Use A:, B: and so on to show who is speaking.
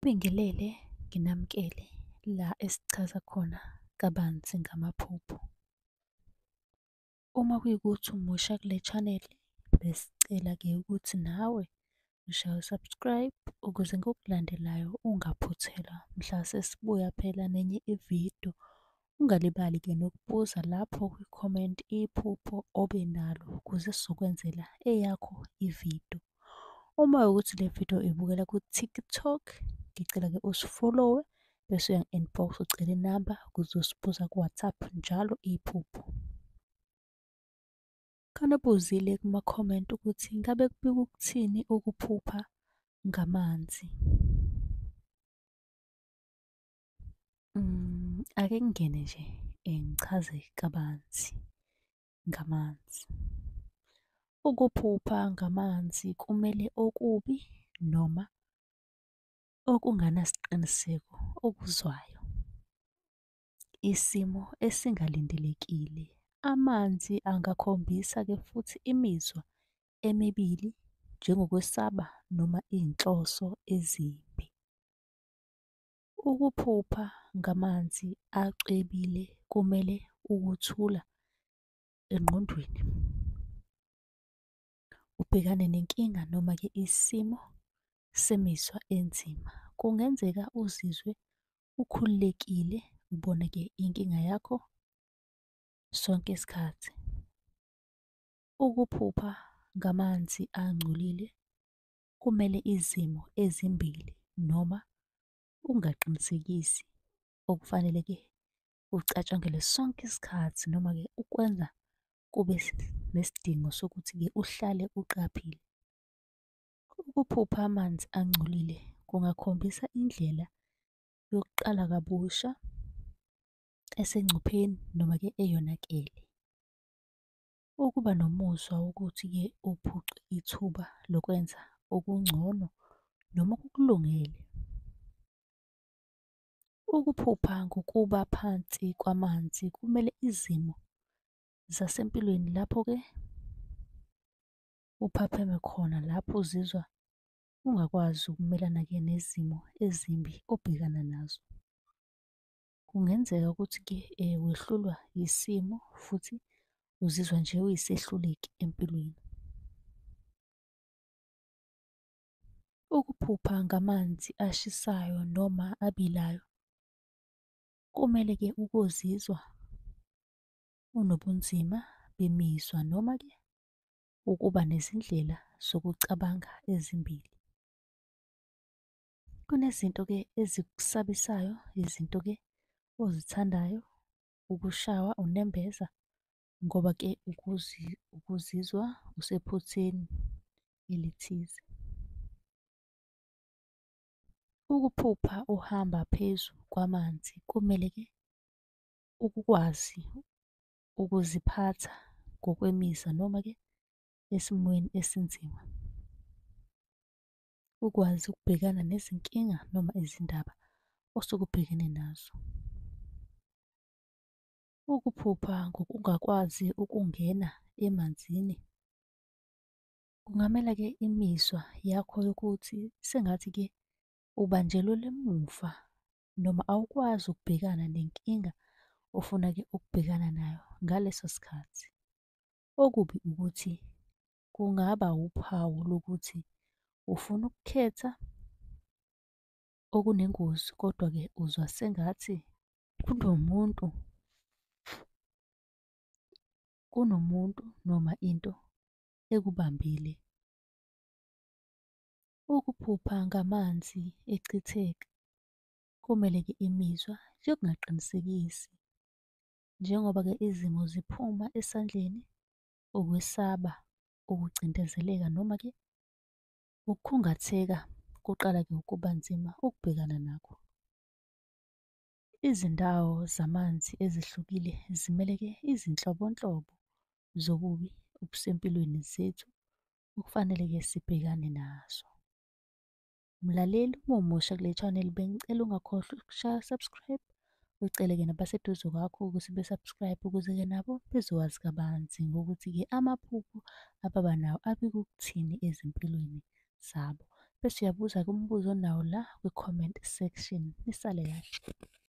A: Ngibingelele nginamukele la esichaza khona kabanzi ngamaphupho. Uma kuyikuthi umusha kule channel besicela-ke ukuthi nawe ushaye usubscribe ukuze ngokulandelayo ungaphuthelwa mhla sesibuya phela nenye ividiyo Ungalibali ke nokubuza lapho kwi-comment iphupho obe nalo ukuze sizokwenzela eyakho ividiyo. Uma ukuthi le vidiyo ibukela ku-TikTok, ngicela ke usifollowe bese uyangi-inbox ucele inamba ukuze usibuza ku-WhatsApp njalo iphupho. Khona ubuzile kuma-comment ukuthi ngabe kubika ukuthini ukuphupha ngamanzi. Mm, ake ngingene nje eh, ngichaze kabanzi ngamanzi. Ukuphupha ngamanzi kumele okubi noma okunganasiqiniseko okuzwayo. Isimo esingalindelekile. Amanzi angakhombisa-ke futhi imizwa emibili njengokwesaba noma izinhloso ezimbi. Ukuphupha ngamanzi acwebile kumele ukuthula engqondweni. Ubhekane nenkinga noma-ke isimo semizwa enzima. Kungenzeka uzizwe ukhululekile ubone-ke inkinga yakho sonke isikhathi. Ukuphupha ngamanzi angcolile kumele izimo ezimbili noma ungaqinisekisi okufanele ke ucatshangelwe sonke isikhathi noma ke ukwenza kube nesidingo sokuthi ke uhlale uqaphile. Ukuphupha amanzi angcolile kungakhombisa indlela yokuqala kabusha esengcupheni noma ke eyonakele. Ukuba nomuzwa wokuthi-ke uphucwe ithuba lokwenza okungcono noma okukulungele. Ukuphupha ngokuba phansi kwamanzi kumele izimo zasempilweni lapho-ke uphapheme khona lapho uzizwa ungakwazi ukumelana-ke nezimo ezimbi obhekana nazo. Kungenzeka ukuthi-ke wehlulwa yisimo futhi uzizwa nje uyisehluleki empilweni. Ukuphupha ngamanzi ashisayo noma abilayo, kumele-ke ukozizwa unobunzima bemizwa noma-ke ukuba nezindlela zokucabanga ezimbili. Kunezinto-ke ezikusabisayo izinto-ke ozithandayo ukushawa unembeza ngoba-ke ukuzizwa usephutheni elithize. Ukuphupha uhamba phezu kwamanzi kumele-ke ukwazi ukuziphatha ngokwemizwa noma-ke esimweni esinzima. ukwazi ukubhekana nezinkinga noma izindaba osuke ubhekene nazo. Ukuphupha ngokungakwazi ukungena emanzini kungamela-ke imizwa yakho yokuthi sengathi-ke ubanjelwe lemuva noma awukwazi ukubhekana nenkinga ofuna-ke ukubhekana nayo ngaleso sikhathi. Okubi ukuthi kungaba wuphawu lokuthi ufuna ukukhetha okunengozi kodwa-ke uzwa sengathi kunomuntu kunomuntu noma into ekubambile. Ukuphupha ngamanzi echitheka komeleke imizwa yokungaqinisekisi njengoba-ke izimo ziphuma esandleni ukwesaba, ukucindezeleka noma-ke ukukhungatheka kuqala-ke ukuba nzima ukubhekana nakho. Izindawo zamanzi ezihlukile zimele-ke izinhlobonhlobo zobubi obusempilweni zethu okufanele-ke sibhekane nazo. Mlaleli uma umusha kule channel bengicela ungakhohlwa ukushaya subscribe uceleke nabaseduze kwakho ukuthi be-subscribe ukuze-ke nabo bezowazi kabanzi ngokuthi-ke amaphupho ababa nawo abikukuthini ezimpilweni zabo. Bese uyabuza-ke umbuzo onawo la kwi-comment section. Nisale kahle.